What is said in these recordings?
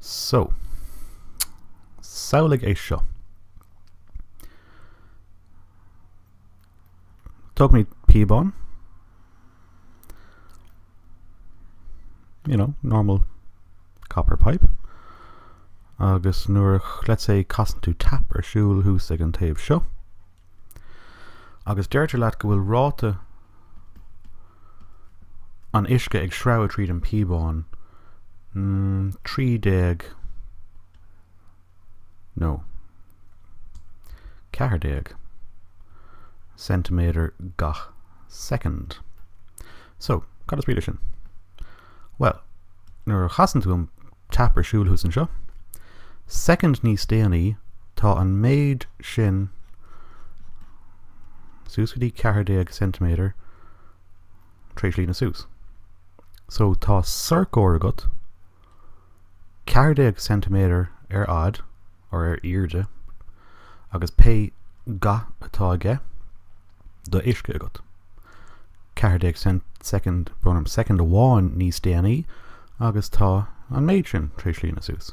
So. Samhlaigh é seo. Tógfaimid píobán. You know, normal copper pipe. Agus nuair, let's say, casann tú tap ar siúl thús ag an taobh seo. Agus deirtear leat go bhfuil ráta an uisce ag sreabhadh tríd an píobán, 13 nó 14 ceintiméadar gach soicind. So, cad is brí leis sin? Bhuel, nuair a chasann tú an tap ar siúl thuas anseo, soicind níos déanaí tá an méid sin suas go dtí 14 ceintiméadar tar éis líonadh suas. So tá sorcóir agat 14 ceintiméadar ar fhad, or ar airde, agus pé ga atá aige, de uisce agat, 14 soicind, gabh mo soicind amháin níos déanaí agus tá an méid sin tar éis líonadh suas.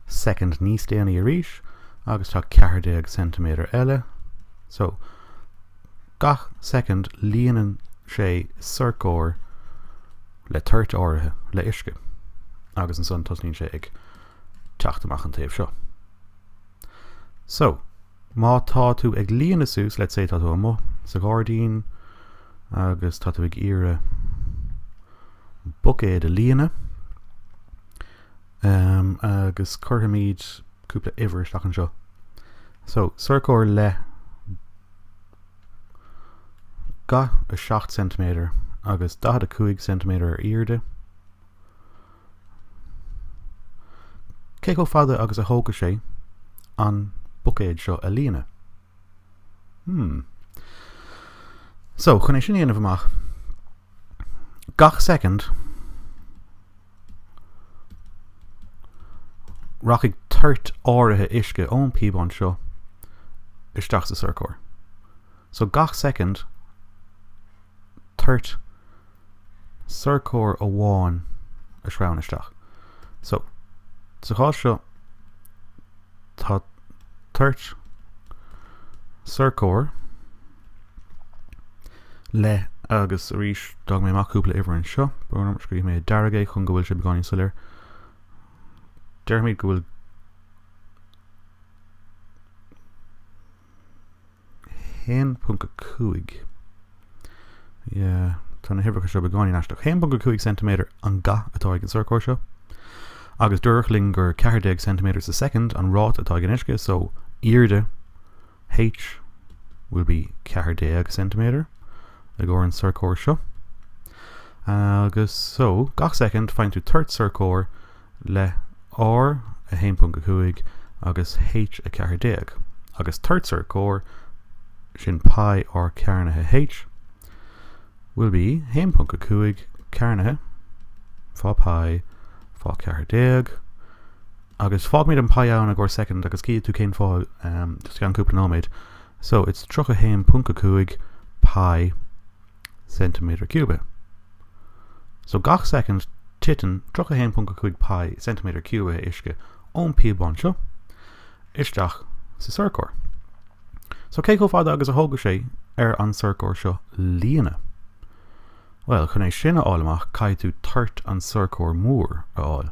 soicind níos déanaí arís agus tá 14 ceintiméadar eile, so, gach soicind líonann sé sorcóir le toirt áirithe le uisce agus ansan tosnaíonn sé ag teacht amach an taobh seo. So. Má tá tú ag líonadh suas, let's say tá tú amuigh sa ghairdín agus tá tú ag iarraidh buicéad a líonadh um, agus cuirfimid cúpla uimhir isteach anseo. So, sorcóir le ga a 7 cm agus 45 cm ar airde. Cé chomh fada agus a thógfaidh sé an buicéad seo a líonadh? Hmm. So, chun é sin a dhéanamh amach, gach soicind rachaidh toirt áirithe uisce ón píobán seo isteach sa sorcóir. So, gach soicind toirt. sorcóir amháin a shreabhann isteach. So, sa chás seo tá toirt sorcóir le agus arís d'fhág mé amach cúpla uimhir anseo. Um, scríobhfaidh mé dearg é chun go bhfuil sé beagáinín soiléir. Deirfimid go bhfuil 1.5 yeah, tá na huimhreacha seo beagáinín aisteach 1.5 cm an gath atá ag an sorcóir seo agus dúradh linn gur 14 cm sa soicind an ráta atá ag an uisce so airde H will be 14 cm i gcomhair an sorcóir seo agus so gach soicind faigheann tú toirt sorcóir le R1.5 agus H14 agus toirt sorcóir sin pi r cearnaithe H will be 1.5 cearnaithe fá pi fá 14 agus fágfaimid an pi ann i gcomhair soicind agus cífidh tú cén fáth um, just i gceann cúpla nóiméad so it's 31.5 pi ceintiméadar ciúbe. So gach soicind titeann 31.5 pi, ceintiméadar ciúbe, uisce ón píobán seo isteach sa sorcóir. So cé chomh fada agus a thógfaidh sé ar an sorcóir seo líonadh? Bhuel chun é sin a fháil amach caithfidh tú toirt an sorcóir mór a fháil.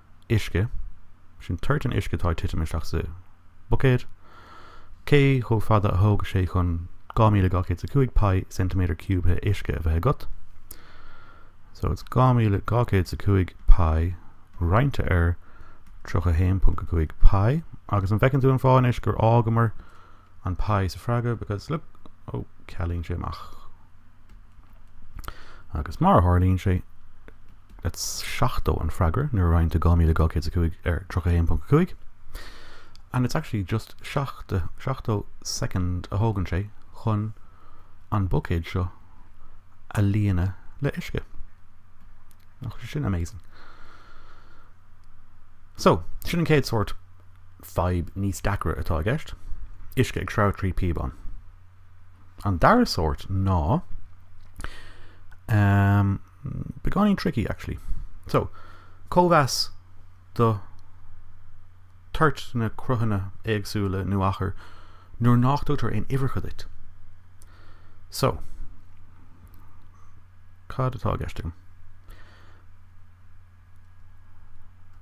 uisce, sin toirt an uisce atá ag titim isteach sa buicéad, cé chomh fada a thógfaidh sé chun 2205 pi, ceintiméadar ciúbtha uisce a bheith agat. So it's 2205 pi roinnte ar 31.5 pi agus an bhfeiceann tú an fáth anois gur fhágamar an pi sa freagra because look ó cealaíonn sé amach agus mar a tharlaíonn sé that's 70 an freagra nuair a roinntear 2205 ar 31.5 and it's actually just 70 70 second a thógann sé chun an buicéad seo a líonadh le uisce. That's amazing. So, sin an céad sort fadhb níos deacra atá i gceist, uisce ag sreabhadh trí píobán. An dara sórt ná um, beagáinín tricky actually. So, cóimheas do toirt na cruthanna éagsúla nó achar nuair nach dtugtar aon uimhreacha duit. So, cad atá i gceist agam?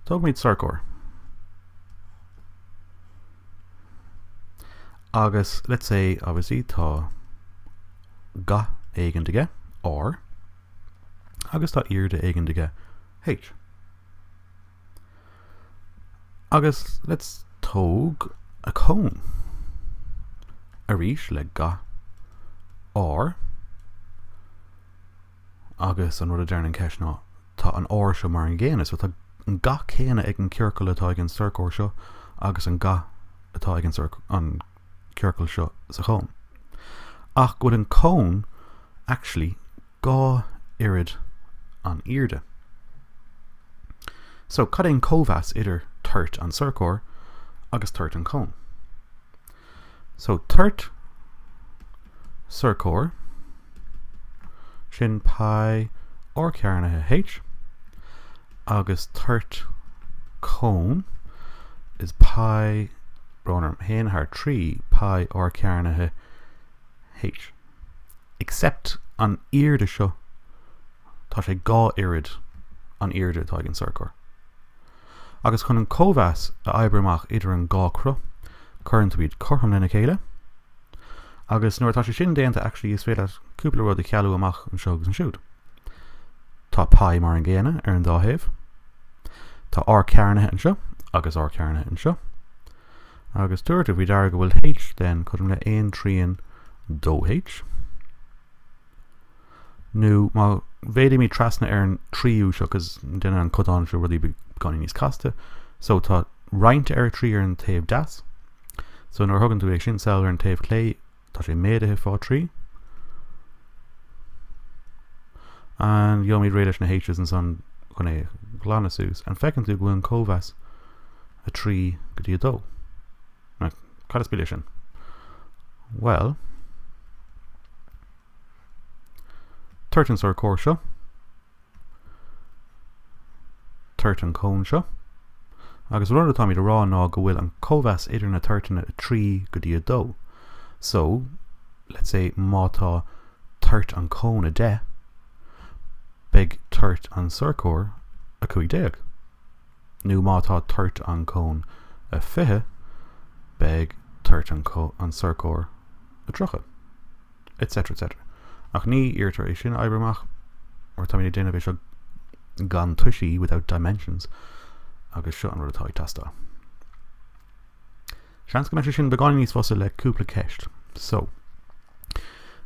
Tógfaimid sorcóir agus let's say obviously tá gath éigin aige, R, agus tá airde éigin aige, H. Agus let's tóg a cone arís le gath R. agus an rud a deireann an cheist ná, tá an áit seo mar an gcéanna, so tá an ga céanna ag an gciorcal atá ag an sorcóir seo agus an ga atá ag an gciorcal seo sa chón. Ach go bhfuil an cón actually dhá oiread an airde. So cad é an cóimheas idir toirt an tsorcóir agus toirt an chóin? So toirt sorcóir sin pi r cearnaithe H agus toirt cón is pi brón orm a haon thar a trí pi r cearnaithe H. Except an airde seo tá sé dhá oiread an airde atá ag an sorcóir. agus chun an cóimheas a oibriú amach idir an dhá cruth cuireann tú iad cothrom lena chéile agus nuair atá sé sin déanta actually is féidir leat cúpla rud a chealú amach anseo agus ansiúd. Tá pi mar an gcéanna ar an dá thaobh. Tá R cearnaithe anseo agus R cearnaithe anseo agus tabhair faoi deara go bhfuil H then cothrom le aon trian dó H. nó má mhéadaímid trasna ar an tríú seo cos déanann an codán seo rudaí beagáinín níos casta so tá roinnt ar a trí ar an taobh deas so nuair a thugann tú é sin sall ar an taobh clé tá sé méadaithe fá trí and gheobhaimid réidh leis na h's ansan chun é a ghlanadh suas and feiceann tú go bhfuil an cóimheas a trí go dtí a dó Right, cad is brí leis sin? Bhuel, toirt an sorcóir seo, toirt an cón seo, agus rud atáimid a rá ná go bhfuil an cóimheas idir na toirteanna a 3 go dtí a 2. So, let's say má tá toirt an cón a 10, beidh toirt an sorcóir a 15. nó má tá toirt an cón a 20, beidh toirt an sorcóir a 30. etc etc. Ach ní iarrtar é sin a oibriú amach mar táimid ag déanamh é seo gan toisí, without dimensions, agus seo an rud atá ag teastáil. Seans go mbeidh sé sin beagáinín níos fusa le cúpla ceist. So.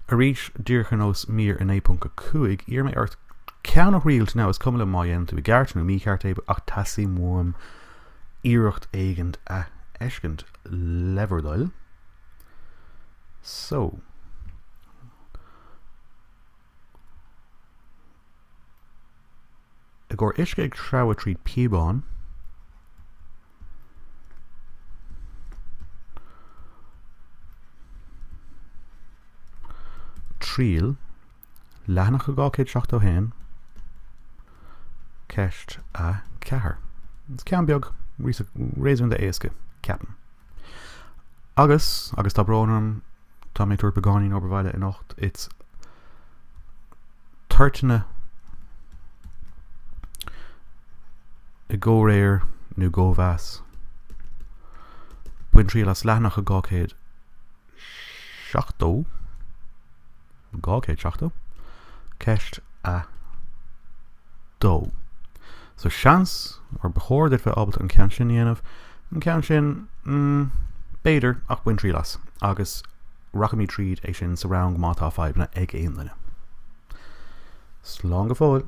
Arís, díreach ar nós mír 9.5, iarraim ort ceann a thriail, now, is cuma liom má dhéanann tú i gceart nó mícheart é ach teastaíonn uaim iarracht éigin a fheiscint. Le bhur dtoil. So. I gcomhair uisce ag treabhadh tríd píobán. Triail, leathanach 271, ceist 4. Is ceann beag réasúnta éasca, ceapaim. Agus, agus tá brón orm Tá mé ag tabhairt beagáinín obair bhaile anocht. Is toirteanna i gcomhréir nó gcóimheas. Bain triail as leathanach a 270. 270. Ceist 2 So seans, or ba chóir duit bheith ábalta an ceann sin a dhéanamh, an ceann sin, mm, b'fhéidir, ach bain triail as, agus rachaimid tríd é sin sa rang má tá fadhbanna ag aon duine. Slán go fóill!